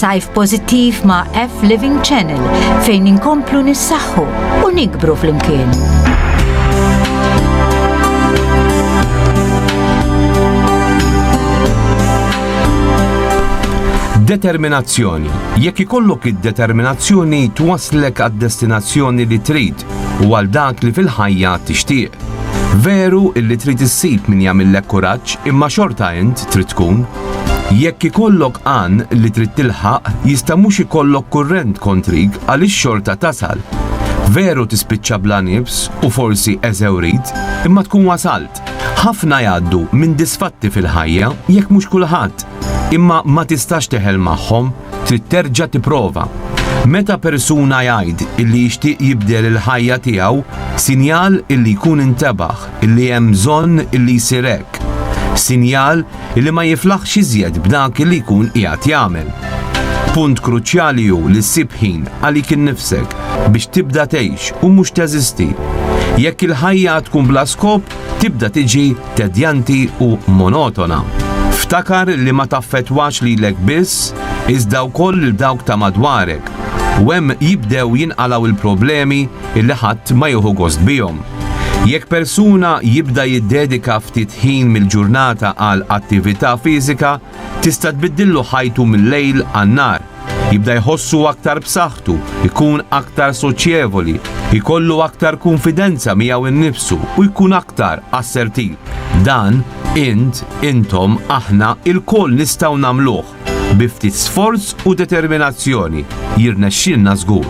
Sajf pozittiv ma' F Living Channel fejn inkomplu nissaħħu u nikbru flimkien. Determinazzjoni Jekk ikollok id-determinazzjoni twasslek għad-destinazzjoni li trid u għal dak li fil-ħajja tixtieq. Veru illi trid issib min jagħmillek kuraġġ imma xorta int trid tkun. Jekk ikollok għan li trid tilħaq jista' mhux ikollok kurrent kontrik għaliex xorta tasal. Veru tispiċċa bla nifs u forsi eżewrit imma tkun wasalt. Ħafna jgħaddu minn disfatti fil-ħajja jekk mhux kulħadd. Imma ma tistax teħel magħhom, trid terġa' tipprova. Meta persuna jgħid illi jixtieq jibdel il-ħajja tiegħu, sinjal illi jkun intebaħ illi hemm bżonn illi jsir hekk. Sinjal illi ma jiflaħx iżjed b'dak illi jkun qiegħed jagħmel. Punt kruċjali hu li ssib ħin għalik innifsek biex tibda tgħix u mhux teżisti. Jekk il-ħajja tkun bla skop, tibda tiġi tedjanti u monotona. Ftakar li ma taffettwax lilek biss, iżda wkoll lil dawk ta' madwarek, u hemm jibdew jinqalgħu l-problemi li ħadd ma jieħu gost bihom. Jekk persuna jibda jiddedika ftit ħin mill-ġurnata għal attività fiżika, tista' tbiddillu ħajtu mil-lejl għan-nhar. Jibda jħossu aktar b'saħħtu, ikun aktar soċjevoli, jkollu aktar konfidenza miegħu innifsu u jkun aktar assertiv. Dan int, intom, aħna il-koll nistgħu nagħmluh bi ftit sforz u determinazzjoni jirnexxilna żgur.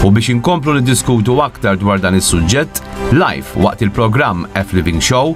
U biex inkomplu niddiskutu aktar dwar dan is-suġġett, live waqt il-programm F Living Show,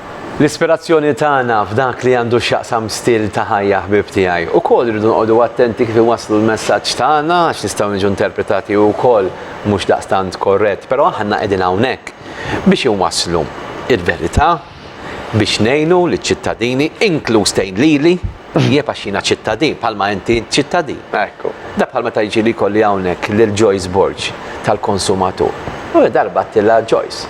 L-ispirazzjoni tagħna f'dak li għandu x'jaqsam stil ta' ħajja ħbieb tiegħi. Ukoll irridu noqogħdu attenti kif inwasslu l-messaġġ tagħna għax nistgħu niġu interpretati wkoll mhux daqstant korrett, però aħna qegħdin hawnhekk biex inwasslu l-verità, biex ngħinu liċ-ċittadini, inkluż tgħin lili. Jieb għax jiena ċittadin, bħalma inti int ċittadin. Ekku. Da bħal meta jiġi li jkolli hawnhekk lil Joyce Borg tal-konsumatur. U darba għattilha Joyce.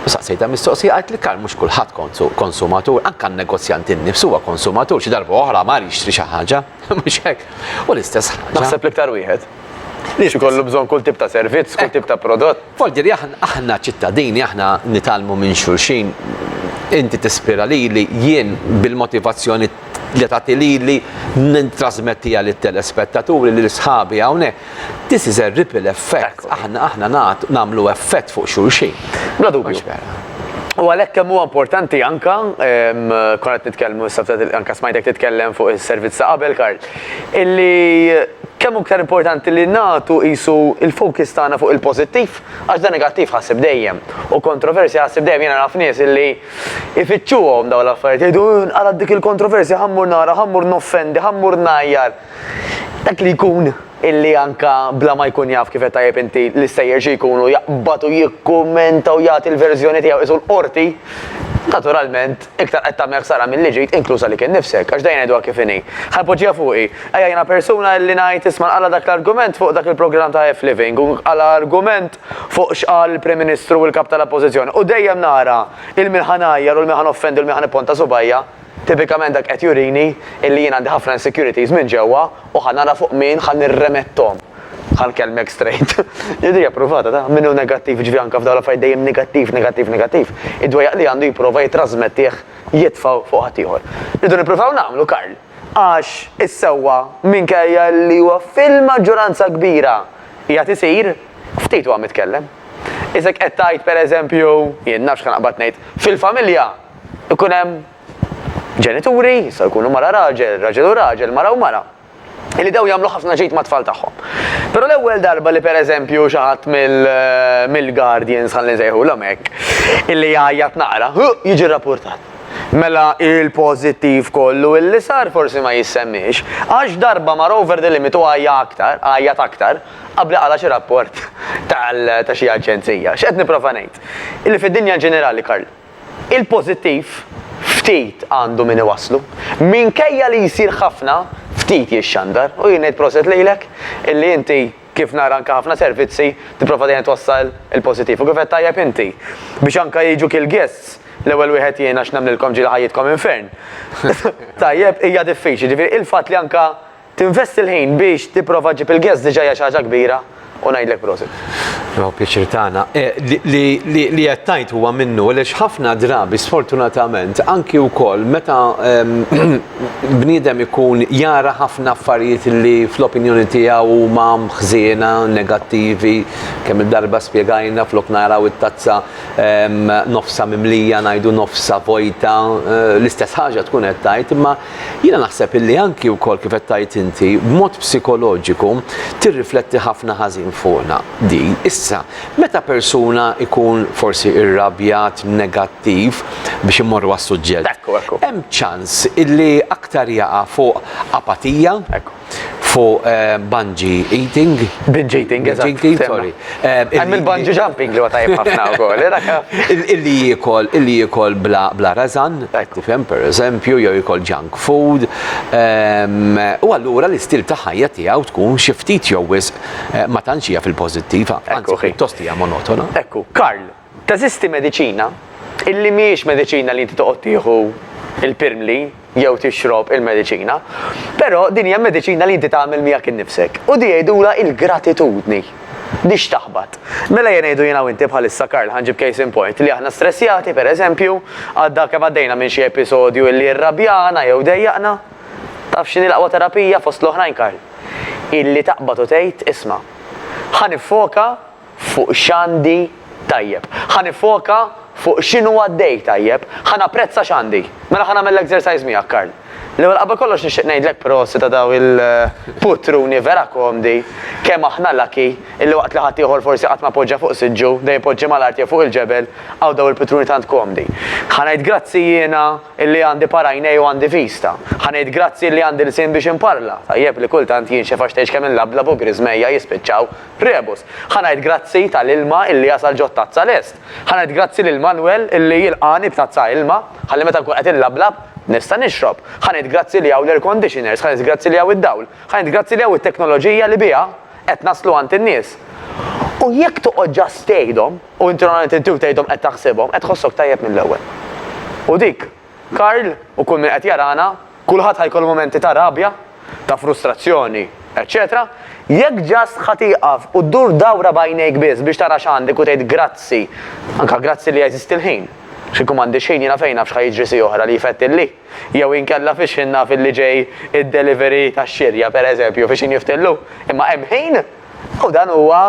U saqsejta mistoqsija għalt li kar mhux kulħadd kontu konsumatur, anke n-negozjant innifsu huwa konsumatur xi darba oħra mar jixtri xi ħaġa, mhux hekk? U l-istess ħaġa. Naħseb l-iktar wieħed. Biex ikollu bżonn kull tip ta' servizz, kull tip ta' prodott. Forġieri, aħna ċittadini, aħna nitgħallmu minn xulxin. Inti tispira lili, jien bil-motivazzjoni li tagħti lili nittrasmettiha lit-telespettaturi, lil sħabi hawnhekk. This is a ripple effect. Aħna aħna nagħtu nagħmlu effett fuq xulxin. Bla dubju. U għalhekk kemm huwa importanti anke, konna qed nitkellmu issa anke smajtek titkellem fuq is-servizz ta' qabel, Karl. illi kemm hu iktar importanti li nagħtu qisu l-focus tagħna fuq il-pożittiv għax dan negattiv ħassib dejjem u kontroversja ħassib dejjem jiena naf nies illi ifittxuhom dawn l-affarijiet jgħidu eh nqalgħet dik il-kontroversja ħa mmur nara ħa mmur noffendi ħa mmur ngħajjar dak li jkun illi anka bla ma jkun jaf kif qed tajjeb inti l-istejjer xi jkunu jaqbad u jikkummenta u jagħti l-verżjoni tiegħu qisu l-qorti naturalment Iktar qed tagħmel ħsara milli ġid, inkluż għalik innifsek, għax dejn għidwa kif inhi. Ħa poġġiha fuqi. Ejja jiena persuna illi ngħid isma' nqala' dak l-argument fuq dak il-programm ta' F-Living u nqala' argument fuq x'qal il-Prim Ministru u l-Kap tal-Appożizzjoni u dejjem nara il min ħa ngħajjar u l min ħa noffendi u l min ħa nipponta subajja. Tipikament dak qed jurini illi jien għandi ħafna insecurities minn ġewwa U ħa nara fuq min ħa nirremetthom. Ħa nkellmek straight. Jidhirli appruvata ta', min hu negattiv, jiġifieri anke f'dawn l-affarijiet dejjem negattiv, negattiv, negattiv, id-dwejjaq li għandu jipprova jittrasmettih, jitfgħu fuq ħaddieħor. Irridu nippruvaw nagħmlu, Karl, għax is-sewwa, minkejja li huwa fil-maġġoranza kbira qiegħed isir, ftit huwa mitkellem. Isek qed tgħid, pereżempju, jien naf x'ħa naqbad ngħid, fil-familja jkun hemm, ġenituri, jistgħu jkunu mara raġel, raġel u raġel, mara u mara, illi dawn jagħmlu ħafna ġid mat-tfal tagħhom. Però l-ewwel darba li pereżempju xi ħadd mill-guardians ħalli nsejħulhom hekk, illi jgħajjat naqra, jiġi rrappurtat. Mela il-pożittiv kollu illi sar forsi ma jissemmiex, għax darba mar over the limit u għajja aktar, għajjat aktar, qabli qala xi rapport ta' xi aġenzija. X'qed nipprova ngħid? Illi fid-dinja ġenerali, Karl, Il-pożittiv, ftit għandu min iwasslu. Minkejja li jsir ħafna, ftit jixxandar. U jien ngħid proset lilek, illi inti, kif nara anke ħafna servizzi, tipprova dejjem twassal il-pożittiv. U kif għedt tajjeb inti, biex anke jiġu kill guests, l-ewwel wieħed jien għax nemmnilkom ġieli ħajjitkom infern. Tajjeb, hija diffiċli. Jiġifieri, il-fatt li anke Tinvesti l-ħin biex tipprova ġġib il-guests diġa hija xi ħaġa kbira u ngħidlek prosit. Huwa pjaċir tagħna. Li qed tgħid huwa minnu għaliex ħafna drabi sfortunatament anki wkoll meta bniedem ikun jara ħafna affarijiet li fl-opinjoni tiegħu huma ħżiena, negattivi, kemm il-darba spjegajna flok naraw it-tazza nofsha mimlija ngħidu nofsha vojta, l-istess ħaġa tkun qed tgħid imma Jiena naħseb illi anki wkoll kif qed tgħid inti, b'mod psikoloġiku tirrifletti ħafna ħażin fuqna din. Issa, meta persuna jkun forsi irrabjat, negattiv, biex immorru għas-suġġett, hemm ċans illi aktar jaqa' fuq apatija, fuq bungee eating. Binge eating, eżatt. Binge eating, sorry. Hemm il-bungee jumping li huwa tajjeb ħafna wkoll. Illi jiekol, illi jiekol bla rażan, tifhem, pereżempju, jew jiekol junk food. U allura l-istil ta' ħajja tiegħu tkun xi ftit jew wisq ma tantx hija fil-pożittiv, anzi pjuttost hija monotona. Ekku, Karl, Teżisti mediċina illi mhijiex mediċina li inti toqgħod tieħu l-pirmli jew tixrob il-mediċina, però din hija mediċina li inti tagħmel miegħek innifsek. U di jgħidulha il-gratitudni. Di x'taħbat? Mela jien ngħidu jiena u inti bħalissa Karl ħanġib case in point li aħna stressjati pereżempju għadda kemm għaddejna minn xi episodju illi rrabjana jew dejjaqna. Taf x'inhi l-aqwa terapija fost l-oħrajn Karl? Illi taqbad u tgħid isma', ħa niffoka fuq x'għandi tajjeb. Ħa niffoka fuq x'inhu għaddej tajjeb. Ħa napprezza x'għandi. Mela ħa nagħmel l-exercise miegħek, Karl. L-ewwel qabel kollox nixtieq ngħidlek prosit ta' dawn il-puttruni vera komdi, kemm aħna lucky illi waqt li ħaddieħor forsi qatt ma poġġa fuq siġġu, dejjem poġġi mal-art jew fuq il-ġebel, hawn dawn il-puttruni tant komdi. Ħa ngħid grazzi jiena illi għandi par għajnej u għandi vista. Ħa ngħid grazzi illi għandi lsien biex inparla, tajjeb li kultant jinxef għax tgħix kemm inlablab u griżmejja jispiċċaw. Rebus, Ħa ngħid grazzi ta' l-ilma illi jasal ġo t-tazza lest. Ħa ngħid grazzi lil Manwel illi jilqagħni b'tazza ilma, ħalli meta nkun qed inlablab, nista' nixrob. Ħa ngħid grazzi li hawn l-air conditioners, ħa ngħid grazzi li hawn id-dawl, ħa ngħid grazzi li hawn it-teknoloġija li biha qed naslu għand in-nies. U jekk toqgħod just tgħidhom, u inti normalment inti u tgħidhom qed taħsibhom, qed tħossok tajjeb mill-ewwel. U dik Karl u kull min qed jarana, kulħadd ħa jkollu mumenti ta' rabja, ta' frustrazzjoni, eċċetera Jekk just ħa tieqaf u ddur dawra b'għajnejk biss biex tara x'għandek u tgħid grazzi, anke grazzi li jeżisti l-ħin, għax kieku m'għandix ħin jiena fejn naf x'ħa jiġri siegħa oħra li jfettilli, jew inkella fiex ħin naf li ġej id-delivery tax-xirja, pereżempju, fiex ħin jiftillu, imma hemm ħin u dan huwa.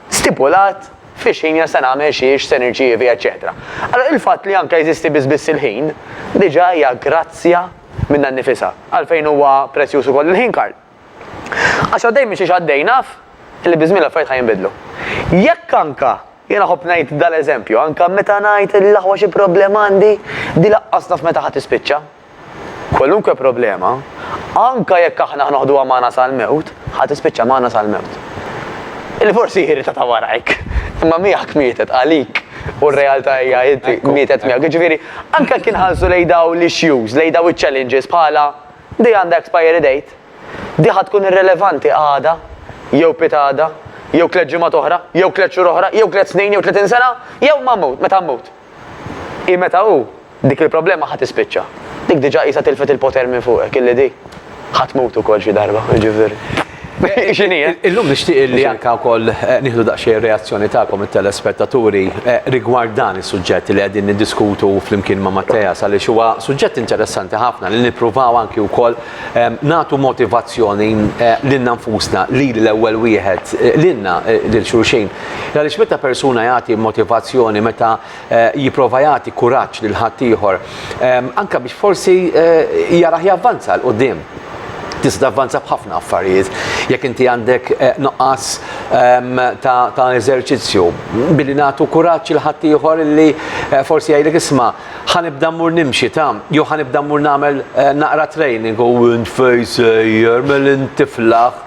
stipulat fi x'ħin jien se nagħmel xi, x'se nirċievi, eċċetera. Allura il-fatt li anke jeżisti biss biss il-ħin, diġà hija grazzja minnha nnifisha. Għalfejn huwa prezzjuż ukoll il-ħin, Karl? Għax għaddej minn xiex għaddej naf li biż-żmien l-affarijiet ħa jinbidlu. Jekk anke, jien iħobb ngħid dal-eżempju, anke meta ngħid li l-aħwa xi problema għandi, din laqqas naf meta ħa tispiċċa. Kwalunkwe problema, anke jekk aħna ħa noħduha magħna sal-mewt, ħa tispiċċa magħna sal-mewt. Illi forsi hi rita ta' warajk, imma miegħek mietet, għalik, u r-realtà hija inti mietet miegħek. Jiġifieri, anke jekk inħarsu lejn dawn l-issues, lejn dawn iċ-challenges bħala di għandha expiry date, di ħa tkun irrelevanti għada, jew pitgħada, jew tliet ġimgħat oħra, jew tliet xhur oħra, jew tliet snin, jew tletin sena, jew ma mmut, meta mmut. Hi meta hu, dik il-problema ħa tispiċċa. Dik diġà qisha tilfet il-poter minn fuqek, illi di ħa tmut ukoll xi darba, jiġifieri. Hi x'inhi, eh? Illum nixtieq li anke wkoll nieħdu daqsxejn ir-reazzjoni tagħkom it-telespettaturi rigward dan is-suġġett li qegħdin niddiskutu flimkien ma' Matteas għaliex huwa suġġett interessanti ħafna li nippruvaw anki wkoll Nagħtu motivazzjoni lilna nfusna, lili l-ewwel wieħed, lilna lil xulxin. Għaliex meta persuna jagħti motivazzjoni, meta jipprova jagħti kuraġġ lil ħaddieħor, anke biex forsi jarah javvanza 'l quddiem, tista' tavvanza f'ħafna affarijiet. Jekk inti għandek nuqqas ta' eżerċizzju, billi nagħtu kuraġġ lil ħaddieħor illi forsi jgħidlek isma', Ħa nibda mmur nimxi ta, jew ħa nibda mmur nagħmel eh, naqra training u int fej sejjer, mel intiflaħ.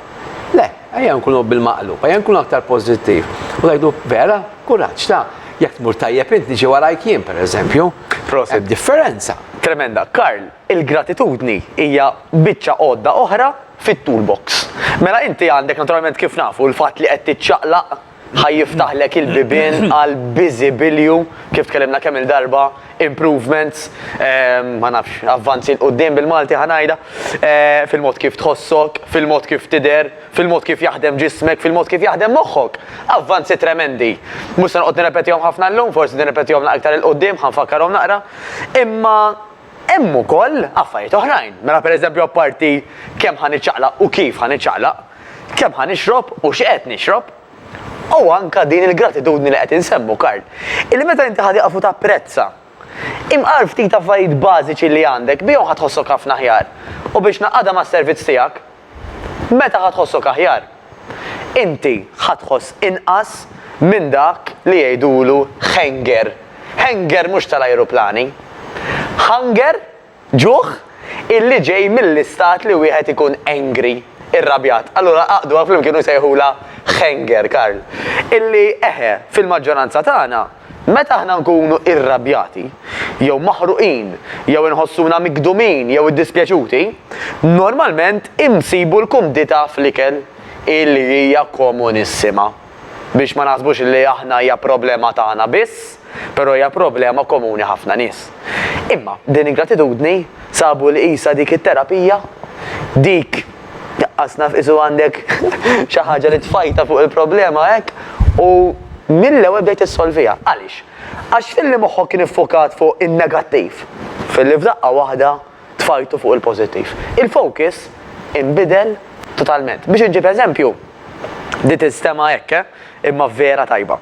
Le, ejja nkunu bil-maqlub, ejja nkunu aktar pożittiv. U ngħidu vera, kuraġġ ta' jekk tmur tajjeb int niġi warajk jien pereżempju. Proset. Differenza. Tremenda. Karl, il-gratitudni hija biċċa għodda oħra fit-toolbox. Mela inti għandek naturalment kif nafu l-fatt li qed tiċċaqlaq ħa jiftaħlek il-bibien għal biżibilju, kif tkellimna kemm il-darba, improvements, ehm, ma nafx, avvanzi l-qoddim bil-Malti ħanajda, eh, fil-mod kif tħossok, fil-mod kif tider, fil-mod kif jaħdem ġismek, fil-mod kif jaħdem moħħok. Avvanzi tremendi. Mhux se noqgħod nirrepetihom ħafna llum, forsi nirrepetihom aktar il-qoddim, ħanfakkarhom naqra. Imma hemm ukoll affarijiet oħrajn. Mela pereżempju apparti kemm ħaniċċaqlaq u kif ħaniċċaqlaq, kemm ħa nixrob u x'qed nixrob, u anke din il-gratitudni li qed insemmu Karl, illi meta inti ħa tieqaf u tapprezza imqar ftit affarijiet bażiċi li għandek bihom ħa tħossok ħafna aħjar u biex ngħaqqadha mas-servizz tiegħek, meta ħa tħossok aħjar, inti ħa tħoss inqas minn dak li jgħidulu hanger, hanger mhux tal-ajruplani, hunger, Ġuħ, illi ġej mill-istat li wieħed ikun angry, irrabjat. Allura għaqqduha flimkien u sejħulha Hanger, Karl. Illi, eħe, fil-maġġoranza tagħna, meta aħna nkunu irrabjati, jew maħruqin, jew inħossuna migdumin jew iddispjaċuti, normalment insibu l-kumdità fl-ikel, illi hija komunissima. biex ma naħsbux li aħna hija problema tagħna biss, però hija problema komuni ħafna nies. Imma din ingratitudni sabu li qisha dik it-terapija, dik qas naf isu għandek xi ħaġa li tfajta fuq il-problema hekk u mill-ewwel bdejt issolviha. Għaliex? Għax filli moħħok kien iffukat fuq in-negattiv, filli f'daqqa waħda tfajtu fuq il-pożittiv. Il-focus inbidel totalment. Biex inġib eżempju, di tinstema' hekk, eh? Imma vera tajba.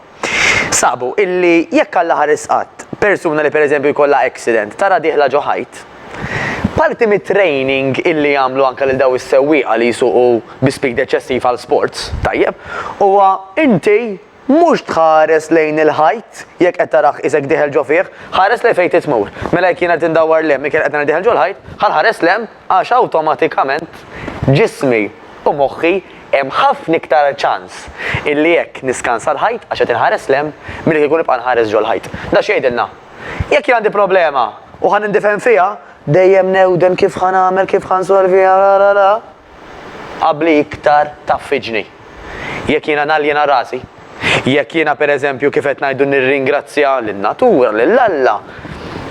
Sabu illi jekk Alla ħares qatt, persuna li pereżempju jkollha accident tara dieħla ġo ħajt, parti mit-training illi jagħmlu anke lil dawn is-sewwieqa li jsuqu bi speed eċċessiv għal sports, tajjeb, huwa inti, Mhux tħares lejn il-ħajt jekk qed tarah qisek dieħel ġo fih, ħares lejn fejn trid tmur. Mela jekk jien qed indawwar 'l hemm, jekk jien qed nara dieħel ġo l-ħajt, ħa nħares 'l hemm għax awtomatikament ġismi u moħħi hemm ħafna iktar ċans illi jekk niskansa l-ħajt għax qed inħares 'l hemm milli kieku nibqa' nħares ġo l-ħajt. Da x'jgħidilna? Jekk jien għandi problema u ħa nindifgħen fiha, dejjem newden kif ħa nagħmel, kif ħa nsolviha, ra ra ra. Qabbli iktar taffiġni. Jekk jiena naljena rasi, jekk jiena pereżempju kif qed ngħidu nirringrazzja lin-natura, lil Alla,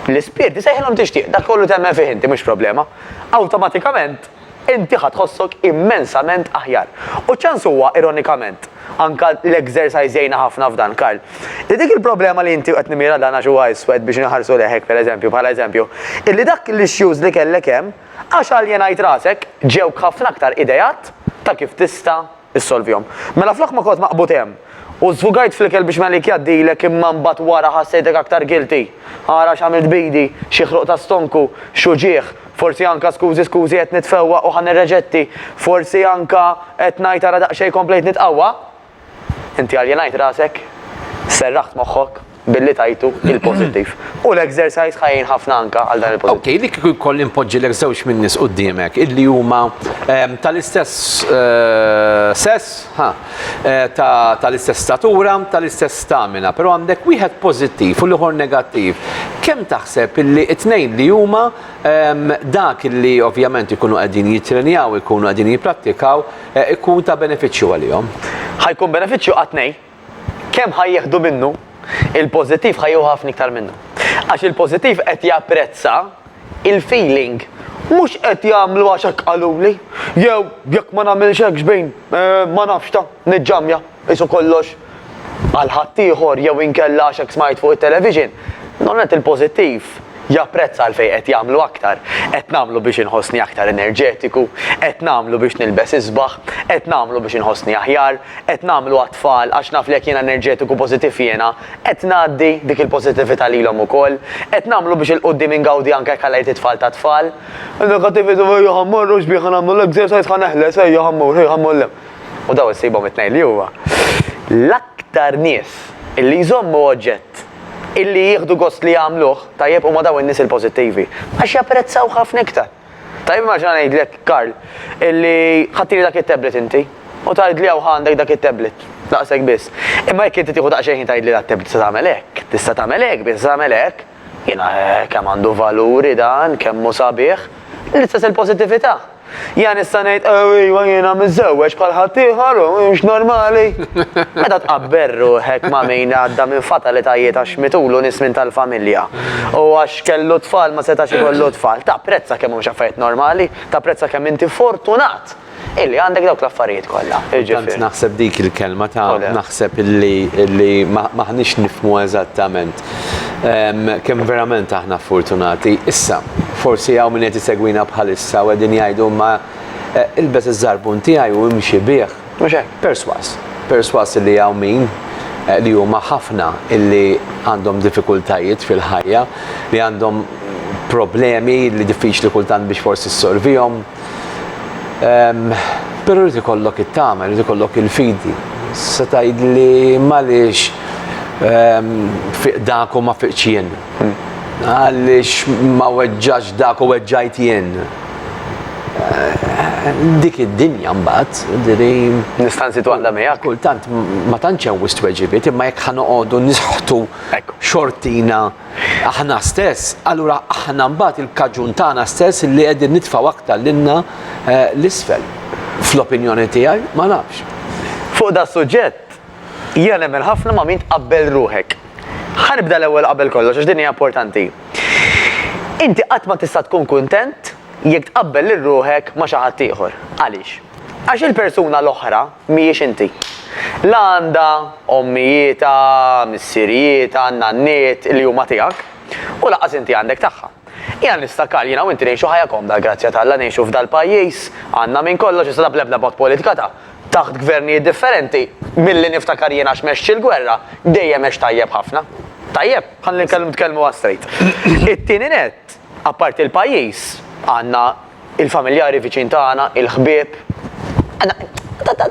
l-ispirti, sejħilhom tixtieq, dak kollu temmen fih inti mhux problema, awtomatikament inti ħa tħossok immensament aħjar. U ċ-ċans huwa, ironikament, anke l-exercise jgħinna ħafna f'dan, Karl, li dik il-problema li inti, u qed nimmira dan għax huwa iswed biex inħarsu lejh hekk pereżempju, bħala eżempju, illi dak l-issues li kellek hemm, Għax aljenajt rasek, ġewk ħafna aktar ideat ta' kif tista' ssolvihom. Mela flok ma kont maqbud hemm, u żfugajt fl-ikel biex Malik jgħaddilek imma mbagħad wara ħassejtek aktar guilty, ara x'għamilt b'idi, xi ħruq ta' stonku, x'uġigħ, forsi anka skużi skużi qed nitfewwa u ħa nirreġetti, forsi anka qed ngħid ara daqsxejn komplejt nitqawwa. Inti aljenajt rasek, serraħt moħħok billi tajtu il-pożittiv. U l-exercise ħa jgħin ħafna anke għal dan il-pożittiv. Okej, li kieku jkolli npoġġilek żewġ min-nies quddiemek illi huma ehm, tal-istess eh, sess, ha, eh, ta- tal-istess statura, tal-istess stamina, però għandek wieħed pożittiv u l-ieħor negattiv. Kemm taħseb illi t-tnejn li huma ehm, dak illi ovvjament ikunu qegħdin jittrenjaw, ikunu qegħdin jipprattikaw, Ikun ta' benefiċċju għalihom. Ħa jkun benefiċċju għat tnejn. Kemm ħa jieħdu minnu, il-pożittiv ħa jieħu ħafna iktar minnu. Għax il-pożittiv qed japprezza il-feeling. Mhux qed jagħmlu għax hekk qaluli, jew jekk ma nagħmilx hekk xbin, ma nafx ta', niġġammja. qisu kollox għal ħaddieħor jew inkella għax hekk smajt fuq it-television, normalment il-pożittiv japprezza għalfejn qed jagħmlu aktar. Qed nagħmlu biex inħossni aktar enerġetiku, qed nagħmlu biex nilbes isbaħ, qed nagħmlu biex inħossni aħjar, qed nagħmlu għat-tfal għax naf li jekk jiena enerġetiku pożittiv jiena qed ngħaddi dik il-pożittività lilhom ukoll, qed nagħmlu biex 'il quddiem ingawdi anke jekk għalajt it-tfal tat-tfal. In-negattività, ejja ħa mmorru x'bieha nagħmlu l-exercise ħa neħles, ejja ħa mmur, ejja ħa mmur l-hemm. u dawn issibhom it-tnejn li huwa l-aktar nies illi jżommu oġġett illi jieħdu gost li jagħmluh, tajjeb, huma dawn in-nies il-pożittivi, għax japprezzawh ħafna iktar. Tajjeb immaġina ngħidlek, Karl, illi ħadtili dak it-tablet inti u tgħidli hawn ħa għandek dak it-tablet, daqshekk biss. Imma jekk inti tieħu daqsxejn ħin tgħidli dak it-tablet tista' tagħmel hekk, tista' tagħmel hekk, biss tagħmel hekk, jiena kemm għandu valuri dan, kemm hu sabiħ, l-istess il-pożittività. Jien nista' ngħid ejwa jiena miżżewweġ bħal ħaddieħor u mhux normali. Meta tqabbel ruħek ma' min għadda minn fatalitajiet għax mitulu nies minn tal-familja u għax kellu tfal ma setax ikollu tfal, tapprezza kemm mhumiex affarijiet normali, tapprezza kemm inti fortunat illi għandek dawk l-affarijiet kollha. Tant naħseb dik il-kelma ta' naħseb illi m'aħniex nifhmu eżattament. Ehm, kemm verament aħna fortunati. Issa, forsi hawn min qed isegwina bħalissa u qegħdin jgħidu ma eh, ilbes iż-żarbun tiegħi u imxi bih. Perswas, perswas li hawn min eh, li huma ħafna illi għandhom diffikultajiet fil-ħajja, li għandhom problemi li diffiċli kultant biex forsi s-sorvijom, Ehm, però rrid ikollok it-tama, rrid ikollok il-fidi. Se tgħid li maliex ehm, fiq dak u ma fiq jien. Hmm. Għaliex ma weġġax dak u weġġajt jien. Eh, dik id-dinja mbagħad, diri. Nistanzi twalla miegħek. Kultant ma tantx hemm wisq weġibiet, imma jekk ħanoqogħdu nisħtu xortina Aħna stess, allura aħna mbagħad il-kaġun tagħna stess li qegħdin nitfgħu aktar lilna l-isfel. Fl-opinjoni tiegħi, ma nafx. Fuq das-suġġett, jiena nemmen ħafna ma' min tqabbel ruħek. Ħa nibda l-ewwel qabel kollox, għax din hija importanti. Inti qatt ma tista' tkun kuntent jekk tqabbel lil ruħek ma' xi ħadd ieħor. Għaliex? Għax il-persuna l-oħra mhijiex inti. La għandha ommijietha, missirijietha, nanniet li huma tiegħek, u lanqas inti għandek tagħha. Hija nistakar jiena u inti ngħixu ħajja komda l-grazzja t'Alla ngħixu f'dal-pajjiż, għandna minn kollox, iżda bl-ebda mod politika ta' taħt gvernijiet differenti, milli niftakar jiena x'mexx il-gwerra, dejjem għext tajjeb ħafna. Tajjeb? Ħalli nitkellmu għas-strejt. It-tieni nett, Apparti l-pajjiż, għandna l-familjari viċin tagħna, il-ħbieb. Għandna,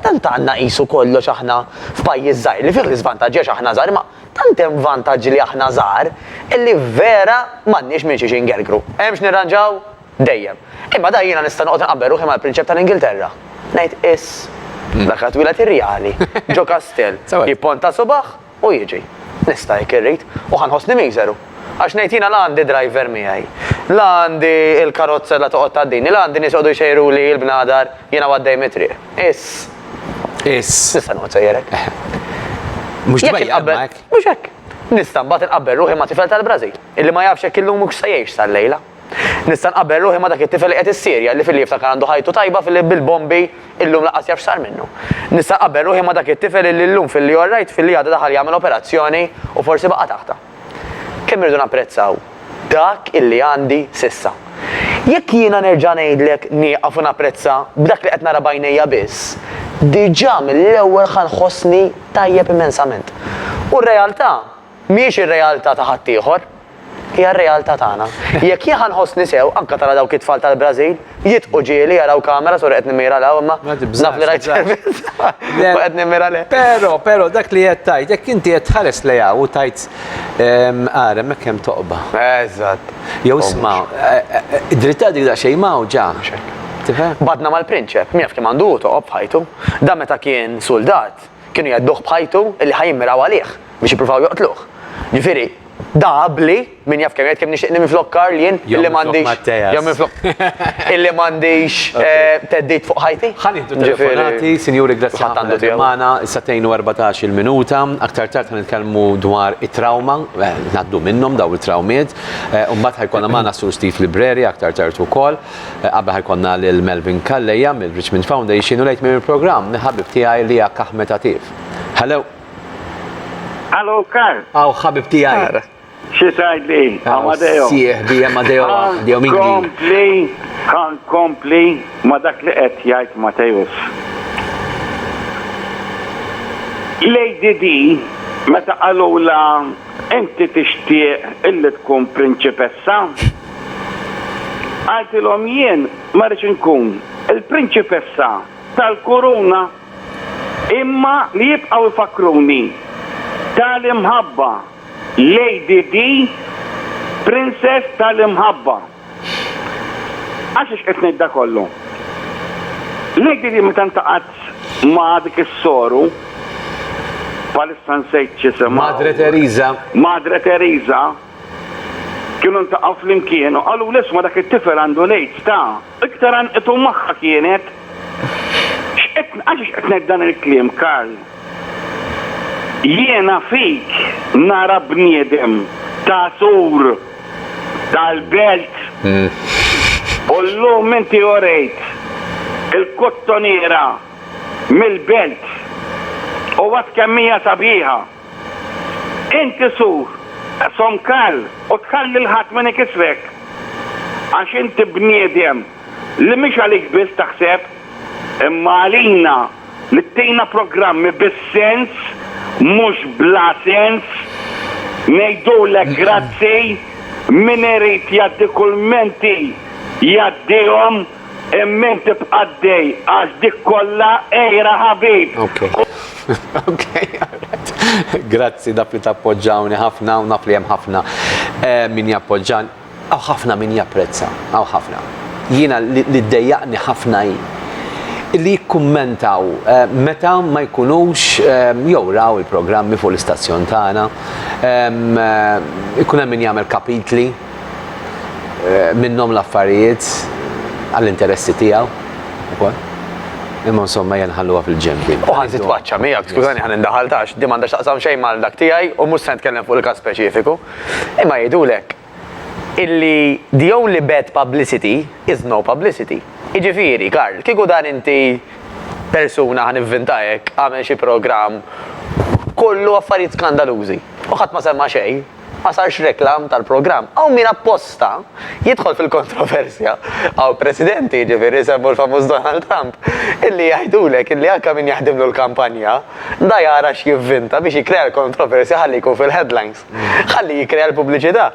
tant għandna qisu kollox aħna f'pajjiż żgħir, li fih l-iżvantaġġi għax aħna żgħar, imma tant hemm vantaġġi li aħna żgħar, li vera m'għandniex minn xiex ingergru. Hemm x'nirranġaw? Dejjem. Imma dan jiena nista' noqgħod inqabbel ruħi mal-Prinċep tal-Ingilterra. Ngħid, Iss, dak li twiled irjali, ġo kastell, jipponta subgħ, u jiġi. Nista' jekk irrid, u ħa nħossni miżeru. Għax ngħid jiena la għandi driver miegħi, la għandi l-karozza la toqgħod tgħaddini, la għandi nies joqogħdu jxejruli l-bnadar jiena u għaddej mit-triq. Is. Is. Nista' noqgħod sejjer hekk. Mhux tbejja imma hekk. Mhux hekk. Nista' mbagħad inqabbel ruħi ma' tifel tal-Brażil, illi ma jafx jekk illum hux se jgħix sal-lejla. Nista' nqabbel ruħi ma' dak it-tifel li qiegħed is-Sirja, li filli jiftakar għandu ħajtu tajba filli bil-bombi illum lanqas jaf x'sar minnu. Nista' nqabbel ruħi ma' dak it-tifel illi llum filli orrajt filli għada daħal jagħmel operazzjoni u forsi baqa' taħtha. Kemm irridu napprezzaw dak illi għandi s'issa. Jekk jiena nerġa' ngħidlek nieqaf u napprezza b'dak li qed nara b'għajnejja biss, diġà mill-ewwel ħa nħossni tajjeb immensament. U r-realtà Mhijiex ir-realtà ta' ħaddieħor. Hija r-realtà tagħna. Jekk jien ħa nħossni sew, anke tara dawk it-tfal tal-Brażil, jidħqu ġieli, jaraw kamera, sorry qed nimmira 'l hawn imma naf li rajt servizz u qed nimmira lejk. Però, però dak li qed tgħid, jekk inti qed tħares lejn hawn u tgħid, Ara hemmhekk hemm toqba. Eżatt. Jew isma', dritta dik daqsxejn mgħawġa. Mhux hekk. Tifhem? Badna mal-prinċep, min jaf kemm għandu hu toqob f'ħajtu. Dan meta kien suldat. Kienu jhedduh b'ħajtu illi ħa jimmiraw għalih biex jippruvaw joqtluh. Ġifieri, da abbli, min jaf kemm jgħid kemm nixtieq nimmi flok Karl jien illi m'għandix, jew minflok Matteas, illi m'għandix theddid fuq ħajti. Ħa nieħdu telefonati, sinjuri grazzi ħafna li qegħdin magħna, is-sagħtejn u erbatax il-minuta. Aktar tard ħa nitkellmu dwar it-trawma, ngħaddu minnhom dawn it-trawmiet. U mbagħad ħa jkollna magħna s-Sur Steve Libreri aktar tard ukoll. Qabel ħa jkollna lil Melvin Calleja mill-Richmond Foundation u lejn tmiem il-programm mill-ħabib tiegħi Liak Ahmed Atif. Hello! Hello Karl! Hawn ħabib tiegħi. Xi tgħidli? Amadeo. Sieħbi Amadeo Amadeo Minghi. Kompli, kan kompli ma dak li qed jgħid Mateus. Lady D meta qalula inti tixtieq illi tkun prinċipessa? Qaltilhom, Jien ma rridx inkun il-prinċipessa tal-kuruna, imma li jibqgħu jfakkruni tal-imħabba, Lady Di, Princess tal-imħabba. Għaliex qed ngħid dan kollu? Lady Di meta ltaqgħet ma' dik is-soru, bħalissa nsejt x'jisimha. Madre Teresa. Madre Teresa. Kienu ltaqgħu flimkien u qalulu isma' dak it-tifel għandu l-aids ta', iktar għanqtu magħha kienet. X'qed għaliex qed ngħid dan il-kliem Karl? Jiena fik nara bniedem ta' sur tal-belt. U llum inti urejt il-kottoniera mill-belt u għad kemm hija sabiħa. Inti sur, som Karl, u tħalli 'l ħadd min ikissrek. Għax inti bniedem li mhix għalik biss taħseb, imma għalina li ttina programmi bis-sens mhux bla sens. Ngħidulek grazzi, min irid jgħaddi kulmenti jgħaddihom. Immin tibqa' d-dej għax dik kollha għira ħabib. Grazzi dawk li tappoġġawni ħafna u naf li hemm ħafna min jappoġġan. Hawn ħafna min japprezza, hawn ħafna. Jiena li ddejjaqni ħafna hi li jikkummentaw meta ma jkunux jew raw il-programmi fuq l-istazzjon tagħna, ikun hemm min jagħmel kapitli, minnhom l-affarijiet għall-interessi tiegħu ukoll. Imma insomma hija nħalluha fil-ġembi. U ħan titwaċċa miegħek, skużani ħan indaħal tax, di m'għandax taqsam xejn mal dak tiegħi u mhux se nitkellem fuq il-każ speċifiku. Imma jgħidulek illi the only bad publicity is no publicity. Jiġifieri, Karl, kieku dan inti persuna ħan ivvintajek għamel xi programm kollu affarijiet skandalużi u ħadd ma semma xejn, Ma sarx reklam tal-programm. Hawn min apposta jidħol fil-kontroversja. Hawn Presidenti, jiġifieri semmu l-famuż Donald Trump, illi jgħidulek illi anke min jaħdimlu l-kampanja, da jara x'jivvinta biex jikkrea l-kontroversja ħalli jkun fil-headlines. Ħalli jikkrea l-pubbliċità.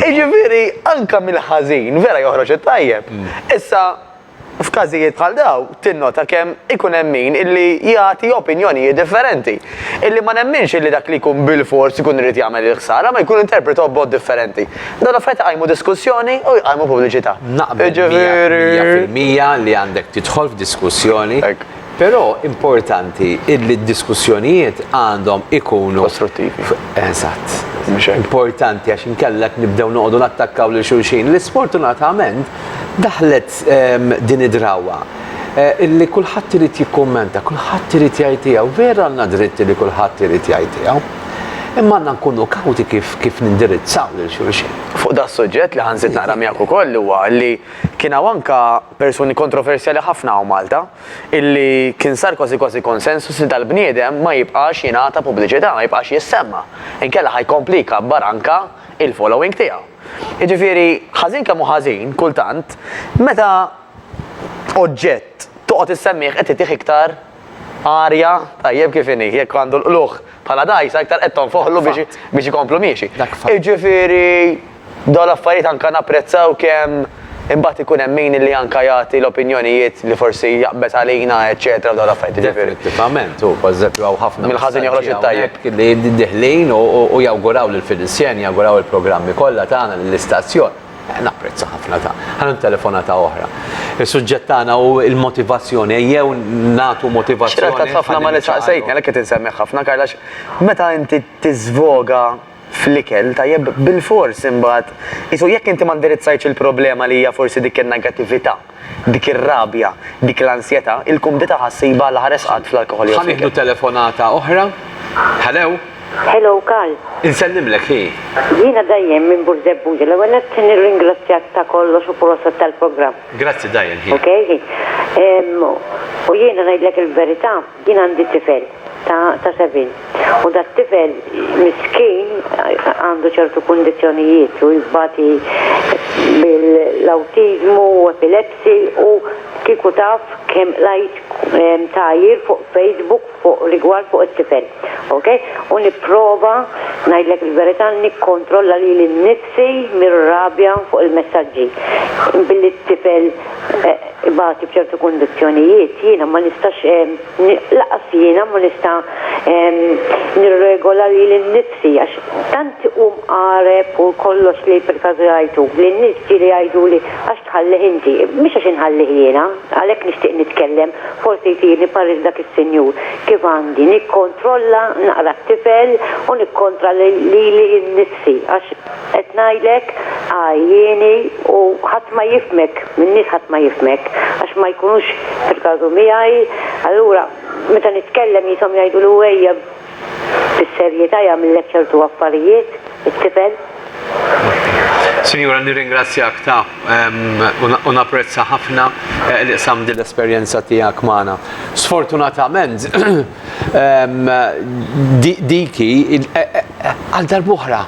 Jiġifieri anke mill-ħażin, vera joħroġ it-tajjeb. Issa, F'każijiet bħal dawn, tinnota kemm ikun hemm min illi jagħti opinjonijiet differenti, illi ma nemminx illi dak li jkun bilfors ikun irid jagħmel il-ħsara, ma jkun interpretaw b'mod differenti. Dawn l-affarijiet iqajmu diskussjoni u jqajmu pubbliċità. Naqbel miegħek mija fil-mija li għandek tidħol f'diskussjoni. Però importanti illi d-diskussjonijiet għandhom ikunu. Kostruttivi. Eżatt. Mhux hekk. Importanti għax inkella qed nibdew noqogħdu nattakkaw lil xulxin li sfortunatament daħlet din id-drawwa illi kulħadd irid jikkummenta, kulħadd irid jgħid tiegħu. Vera għandna dritt li kulħadd irid jgħid tiegħu. Imma għandna nkunu kawti kif kif nindirizzaw lil xulxin. Fuq da' suġġett li ħa nżid naqra miegħek ukoll huwa li kien hawn anke Persuni kontroversjali ħafna hawn Malta, illi kien sar kważi kważi konsensus li dal-bniedem ma jibqax jingħata pubbliċità, ma jibqax jissemma, inkella ħa jkompli jkabbar anke il-following tiegħu. Jiġifieri, ħażin kemm hu ħażin, kultant, meta oġġett toqgħod issemmih qed titih iktar Arja, tajjeb kif inhi, jekk għandu l-qlugħ bħala dgħajsa iktar qed tonfoħlu biex ikomplu miexi. Jiġifieri dawn l-affarijiet anke napprezzaw kemm imbagħad ikun hemm min li anke jagħti l-opinjonijiet li forsi jaqbeż għalina eċċetera f'dawn l-affarijiet. Definittivament, u pereżempju hawn ħafna mill-ħażin joħroġ it-tajjeb li diħlin u jawguraw lill-Finizzjani, jawguraw il-programmi kollha tagħna lill-istazzjon. Napprezza ħafna ta. Ħanem telefonata oħra. Il-suġġett tagħna u il-motivazzjoni, jew natu motivazzjoni. Xirqat ħafna ma li saqsejtni, għalek qed insemmiħ ħafna, Karlax, meta inti tiżvoga fl-ikel, tajjeb, bil-fors imbagħad, isu jekk inti ma ndirizzajtx il-problema li hija forsi dik in-negattività. Dik ir-rabja, dik l-ansjetà, il-kumdità ħa ssibha la ħares qatt fl-alkoħol jew fl-ikel. Ħa nieħdu telefonata oħra. Hello? Hello, Karl. Insellimlek, hi. Jiena Diane minn Burzebbuġa. L-ewwel nett nirringrazzjak ta' kollox u proset tal-programm. Grazzi Diane, hi. Okej, hi. U jiena ngħidlek il-verità. Jien għandi tifel ta' ta' sebgħin u dat-tifel miskin għandu ċertu kundizzjonijiet u jbati bil-awtiżmu u epilepsy u kieku taf kemm qrajt tagħjir fuq Facebook fuq rigward fuq it-tifel. Ok? U nipprova ngħidlek il-verità nikkontrolla lili nnifsi mir-rabja fuq il-messaġġi billi t-tifel ibati b'ċertu kundizzjonijiet, jiena ma nistax, lanqas jiena ma nista' nirregola lili nnifsi għax tant hu mqareb u kollox li perkażu jgħajtu. Li n-nies ġieli jgħiduli, għax tħallih inti? Mhux għax inħallih jiena, għalhekk nixtieq nitkellem, forsi jtirni pariri dak is-sinjur, kif għandi nikkontrolla naqra t-tifel u nikkontra lili nnifsi għax, Qed ngħidlek għajjieni u ħadd ma jifhmek, min-nies ħadd ma jifhmek għax ma jkunux fil-każu miegħi, allura meta nitkellem qishom jgħiduli u ejja bis-serjetà jagħmillek ċertu affarijiet it-tifel. Sinjura nirringrazzjak ta' u napprezza ħafna li qsamt din l-esperjenza tiegħek magħna. Sfortunatament dik hi għal darb'oħra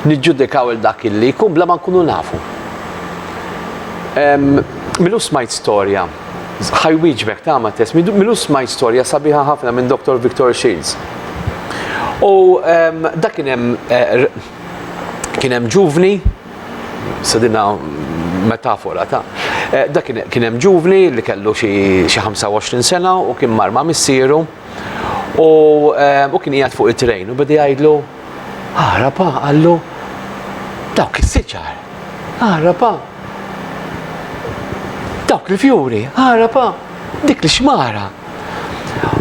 niġġudikaw il dak illi jkun bla ma nkunu nafu. Milu smajt storja, ħaj wieġbek ta' ma test, milu smajt storja sabiħa ħafna minn Dr. Victor Shields. U da kien hemm eh, kien hemm ġuvni, sedina metafora ta' eh, da kien hemm ġuvni li kellu xi 25 sena u kien mar ma' missieru u eh, kien qiegħed fuq it-trejn u bidi jgħidlu Aħrapa qallu dawk is-siġar. Aħrapa dawk il-fjuri. Aħrapa dik l-xmara.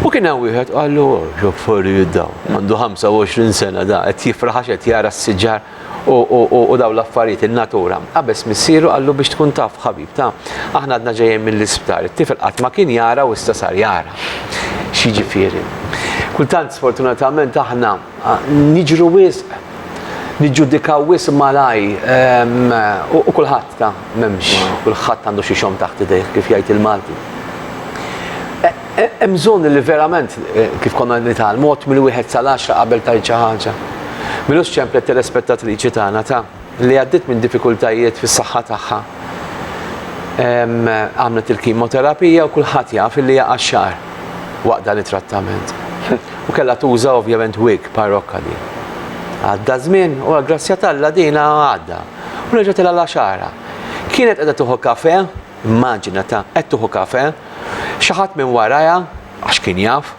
U kien hawn wieħed qallu x'affarijiet daw. Għandu 25 sena da qed jifraħ qed jara s-siġar u daw l-affarijiet in-natura. Qabeż missieru qallu biex tkun taf ħabib ta' aħna għadna ġejjin mill-isptar. It-tifel qatt ma kien jara u issa sar jara. X'jiġifieri? Kultant sfortunatament aħna niġru wisq, niġġudikaw wisq malajr u kulħadd ta' m'hemmx, kulħadd għandu xi xogħol taħt idejh kif jgħid il-Malti. Hemm bżonn li verament kif konna qed nitgħallmu għodd mill-wieħed sal-għaxra qabel tgħid xi ħaġa. Milux ċemplet telespettatriċi tagħna ta'. li għaddiet minn diffikultajiet fis-saħħa tagħha. Għamlet il-kimoterapija u kulħadd jaf li hija qaxxar waqt dan it-trattament. U kellha tuża ovvjament wig parrokka din. Għadda żmien u għall-grazzja t'Alla din għadda u reġgħet ilha l-għaxara. Kienet qiegħda tieħu kafè, immaġina ta' qed tieħu kafè, xi ħadd minn warajha, għax kien jaf,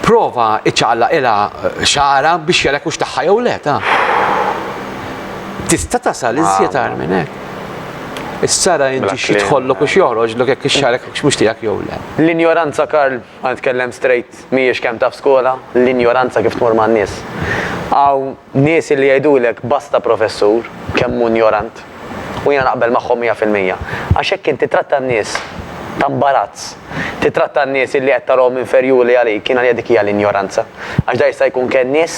Prova iċċaqlaqilha xagħarha biex jarek hux tagħha jew le ta. Tista' tasal iżjed għar minn hekk. Is-sara inti xi tħollok u x'joħroġlok jekk ix-xarek mhux tiegħek jew le. L-injoranza Karl, ħa nitkellem straight, mhijiex kemm taf skola, l-injoranza kif tmur man-nies. Hawn Nies li jgħidulek basta professur, kemm hu injorant. U jiena naqbel magħhom mija fil-mija. Għax hekk int tittratta n-nies ta' mbarazz. Tittratta n-nies illi qed tarahom inferjuri għalik, jiena nigħid dik hija l-injoranza. Għax dan jista' jkun kennies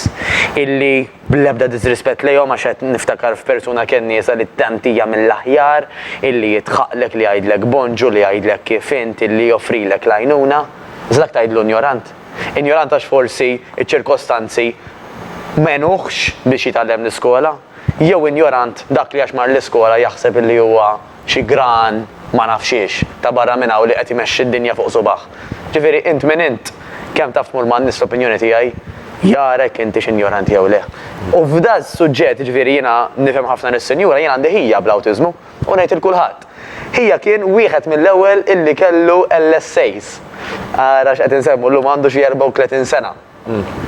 illi, bl-ebda diżrispett lejhom għax qed niftakar f'persuna kenniesa li tant hija mill-aħjar, illi jidħaqlek, li jgħidlek bonġu, li jgħidlek kif int, illi joffrilek l-għajnuna. Iżda dak tgħidlu injorant? Injorant għax forsi ċ-ċirkostanzi m'għenuhx biex jitgħallem l-iskola, jew injorant dak li għax mar l-iskola jaħseb illi huwa xi gran ma naf xiex ta' barra minn hawn li qed imexxi d-dinja fuq subgħah. Ġifieri int min int? Kemm taf tmur man-nies l-opinjoni tiegħi jara jekk intix injorant jew le. U f'da s-suġġett, jiġifieri jiena nifhem ħafna lis-sinjura, jien għandi ħija bl-awtiżmu. U ngħid 'il kulħadd, Hija kien wieħed mill-ewwel illi kellu LSAs. Ara x'qed insemmu llum, għandu xi 34 sena.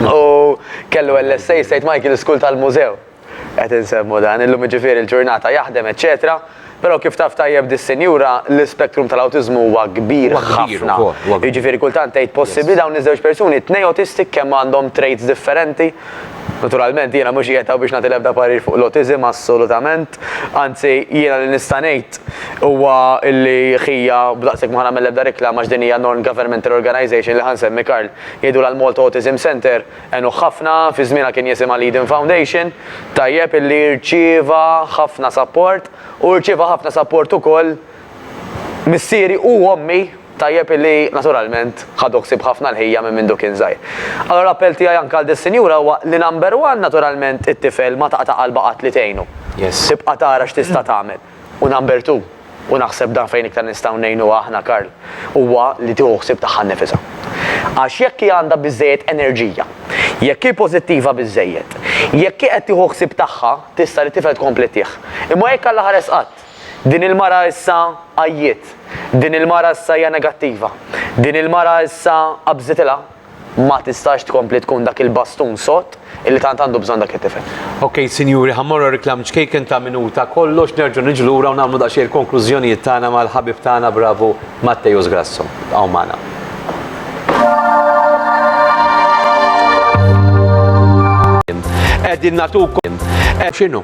U kellu LSA St. Michael's School tal-Mużew. Qed insemmu dan, illum jiġifieri l-ġurnata jaħdem eċċetera. Però kif taf tajjeb dis-sinjura, l-ispektrum tal-awtiżmu huwa kbir ħafna. Jiġifieri kultant tgħid possibbli dawn iż-żewġ persuni, it-tnejn autistic kemm għandhom traits differenti? Naturalment jiena mhux qiegħed hawn biex nagħti l-ebda parir fuq l-autiżm assolutament, anzi jiena li nista' ngħid huwa li ħija b'daqshekk ma ħa nagħmel l-ebda riklama għax din hija non-governmental organisation li ħa nsemmi Karl jgħidulha l-Malta Autism Centre għenuh ħafna, fi żmienha kien jisimha l-Eden Foundation, tajjeb illi rċieva ħafna sapport u rċieva ħafna sapport ukoll missieri u ommi. Tajjeb illi, naturalment, ħadu ħsieb ħafna l-ħija minn mindu kien żgħir. Allura l-appell tiegħi anke għal dis-sinjura huwa li number one, naturalment, it-tifel ma taqta' qalbha qatt li tgħinu. Tibqa' tara x'tista' tagħmel. U number two, u naħseb dan fejn iktar nistgħu ngħinuha aħna Karl, huwa li tieħu ħsieb tagħha nnifisha. Għax jekk hi għandha biżżejjed enerġija, jekk hi pożittiva biżżejjed, jekk hi qed tieħu ħsieb tagħha, tista' lit-tifel tkompli ttih. Imma jekk Alla ħares qatt! Din il-mara issa għajjiet. Din il-mara issa hija negattiva. Din il-mara issa qabżitilha. Ma tistax tkompli tkun dak il-bastun sod illi tant għandu bżonn dak it-tifel. Ok sinjuri ħa mmorru għar-reklam ċkejken ta' minuta kollox nerġgħu niġu lura u nagħmlu daqsxejn il-konklużjonijiet tagħna mal-ħabib tagħna bravu Matteus Grasso. Ibqgħu magħna. Qegħdin nagħtukom. X'inhu?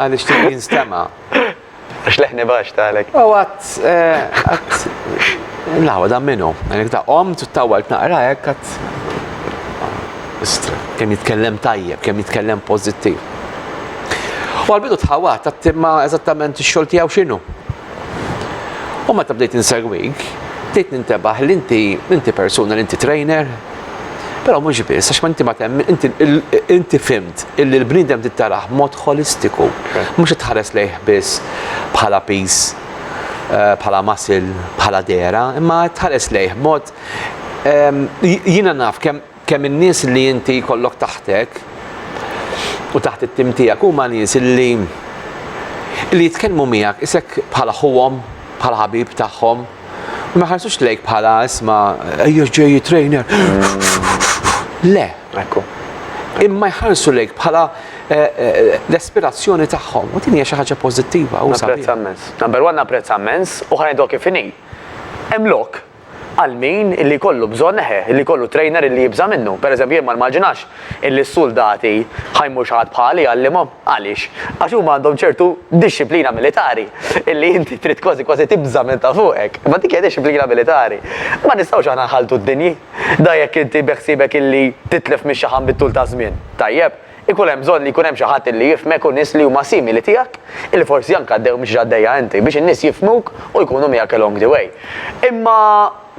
Għal ixtieq jinstema'. Għax leħni baxx tagħlek. U għad. għad. Lawa dan minnu. Għalek ta' om tuttawalt naqra hekk għad. Istra. Kemm jitkellem tajjeb, kemm jitkellem pożittiv. U għal-bidu tħawat, għattimma eżattament ix-xogħol tiegħu x'inhu. U meta bdejt insegwik, bdejt nintebaħ li inti inti persuna li inti trainer, però mhux biss għax ma inti ma temm inti inti fimt illi l-bniedem tittarah mod holistiku, mhux tħares lejh biss bħala piż eh, bħala masil, bħala dera, imma tħares lejh mod Jiena naf kemm Kemm in-nies li inti jkollok taħtek u taħt it-tim tiegħek huma nies li li jitkellmu miegħek isek bħala ħuhom, bħala ħabib tagħhom, u ma jħarsux lejk bħala isma' ejja ġej trainer. Le. Ekku. Imma jħarsu lejk bħala eh, eh, l-aspirazzjoni tagħhom. U din hija xi ħaġa pożittiva u sabiħa. Napprezza mens. Number one napprezza mens u ħanidok kif inhi. Hemm lok għal min illi jkollu bżonn, eħe, illi jkollu trainer illi jibża' minnu. Per eżempju, jien ma nimmaġinax illi s-suldati ħa jmur xi ħadd bħali jgħallimhom. Għaliex? Għax huma għandhom ċertu dixxiplina militari illi inti trid kważi kważi tibża' minn ta' fuqek. Imma dik hija dixxiplina militari. Ma nistgħux aħna nħalltu d-dinji. Da jekk inti beħsiebek illi titlef mix-xaħam bit-tul taż-żmien. Tajjeb. Ikun hemm bżonn li jkun hemm xi ħadd li jifhmek u nies li huma simili tiegħek, illi forsi anke għaddew mhux x'għaddejja inti, biex in-nies jifhmuk u jkunu miegħek along the way. Imma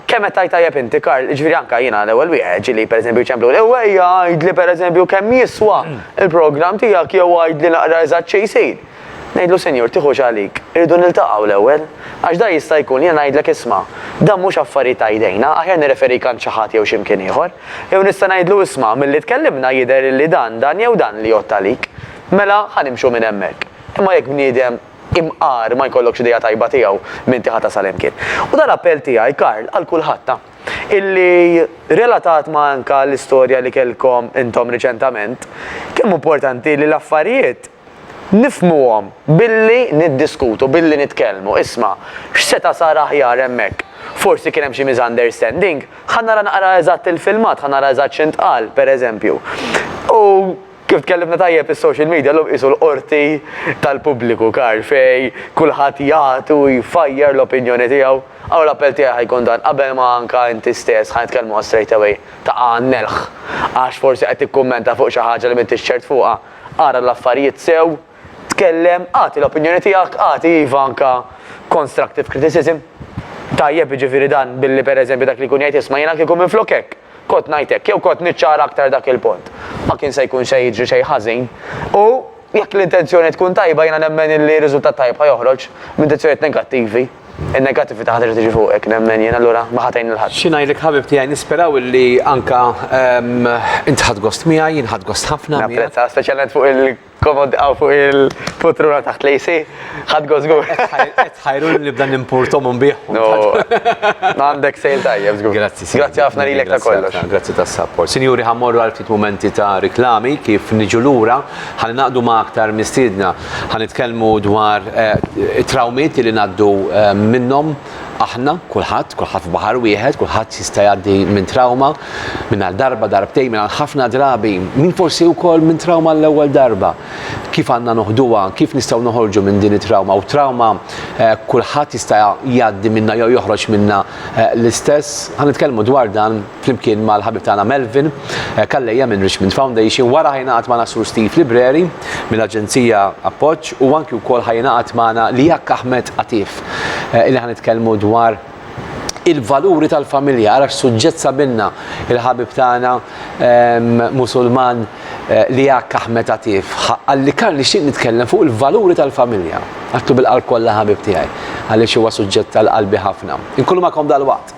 kemm qed tgħid tajjeb inti, Karl, jiġifieri anke jiena l-ewwel wieħed, ġieli pereżempju jċempluni, ewwejja għidli pereżempju kemm jiswa l-programm tiegħek jew għidli naqra eżatt xi jsir. Ngħidlu, 'Sinjur, tiħux għalik, irridu niltaqgħu l-ewwel. Għax dan jista' jkun, jiena ngħidlek, isma', dan mhux affarijiet ta' idejna, aħjar nirreferik għand xi ħadd jew xi mkien ieħor. Jew nista' ngħidlu, 'Isma', milli tkellimna jidher illi dan, dan jew dan li jgħodd għalik. Mela, ħa nimxu minn hemmhekk. Imma jekk bniedem imqar ma jkollokx idea tajba tiegħu, m'inti ħa tasal hemm kien. U dan appell tiegħi, Karl, għal kulħadd, ta'. Illi, relatat ma' anka l-istorja li kellkom intom riċentament, kemm hu importanti li l-affarijiet. Nifhmuhom billi niddiskutu, billi nitkellmu. Isma', x'seta' sar aħjar hemmhekk? Forsi kien hemm xi misunderstanding? Ħa nara naqra eżatt il-filmat, ħa nara eżatt x'intqal, per eżempju. U kif tkellimna tajjeb, is-social media llum qisu l-qorti tal-pubbliku, Karl, fejn kulħadd jgħid u jfajjar l-opinjoni tiegħu. Allura l-appell tiegħi ħa jkun dan, qabel ma anke inti stess ħa nitkellmuha straightaway, taqa' għan-nelħ għax forsi qed tikkummenta fuq xi ħaġa li m'intix ċert fuqha, ara l-affarijiet sew, tkellem, agħti l-opinjoni tiegħek, agħti iva anke constructive criticism. Tajjeb jiġifieri dan billi per eżempju dak li jkun jgħid isma' jiena kieku minflok hekk, kont ngħid hekk jew kont niċċara aktar dak il-punt. Ma kien se jkun se jiġri xejn ħażin. U jekk l-intenzjoni tkun tajba jiena nemmen illi riżultat tajjeb ħa joħroġ m'intenzjonijiet negattivi. In-negattività ħa terġa' tiġi fuqek, nemmen jien, allura ma ħa tgħin lil ħadd. Xi ngħidlek ħabib tiegħi, nisperaw illi anke int ħadt gost miegħi, jien ħadt gost ħafna miegħek. Napprezza, speċjalment fuq il-komod hawn fuq il-putruna taħt l-AC. Ħadt gost żgur. Qed tħajruni li nibda nimpur Tom u nbigħhom. No, għandek sale tajjeb żgur. Grazzi. Grazzi ħafna lilek ta' kollox. Grazzi tas-sapport. Sinjuri ħa mmorru għal ftit mumenti ta' riklami, kif niġu lura ħa ningħaqdu ma' aktar mistiedna. Ħa nitkellmu dwar it-trawmiet li ngħaddu minnhom aħna, kulħadd, kulħadd f'baħar wieħed, kulħadd jista' jgħaddi minn trawma, minn għal darba, darbtejn, minn għal ħafna drabi, min forsi wkoll minn trawma għall-ewwel darba. Kif għandna noħduha, kif nistgħu noħorġu minn din it-trawma u trawma kulħadd jista' jgħaddi minnha jew joħroġ minnha l-istess? Ħa nitkellmu dwar dan flimkien mal-ħabib tagħna Melvin eh, Kallejja minn Richmond Foundation wara ħajnaqat magħna Sur Steve Libreri mill-Aġenzija Appoġġ u anki wkoll ħajnaqat magħna Lijak Ahmed Atif eh, illi ħanitkellmu dwar il-valuri tal-familja, għarax suġġett sabinna il-ħabib tagħna ehm, musulman eh, li għak Ahmed Atif, għalli kan li xieq nitkellem fuq il-valuri tal-familja, għattu bil-qalb kollha ħabib tiegħi, għalli huwa suġġett tal-qalbi ħafna. Inkollu ma kom dal-waqt.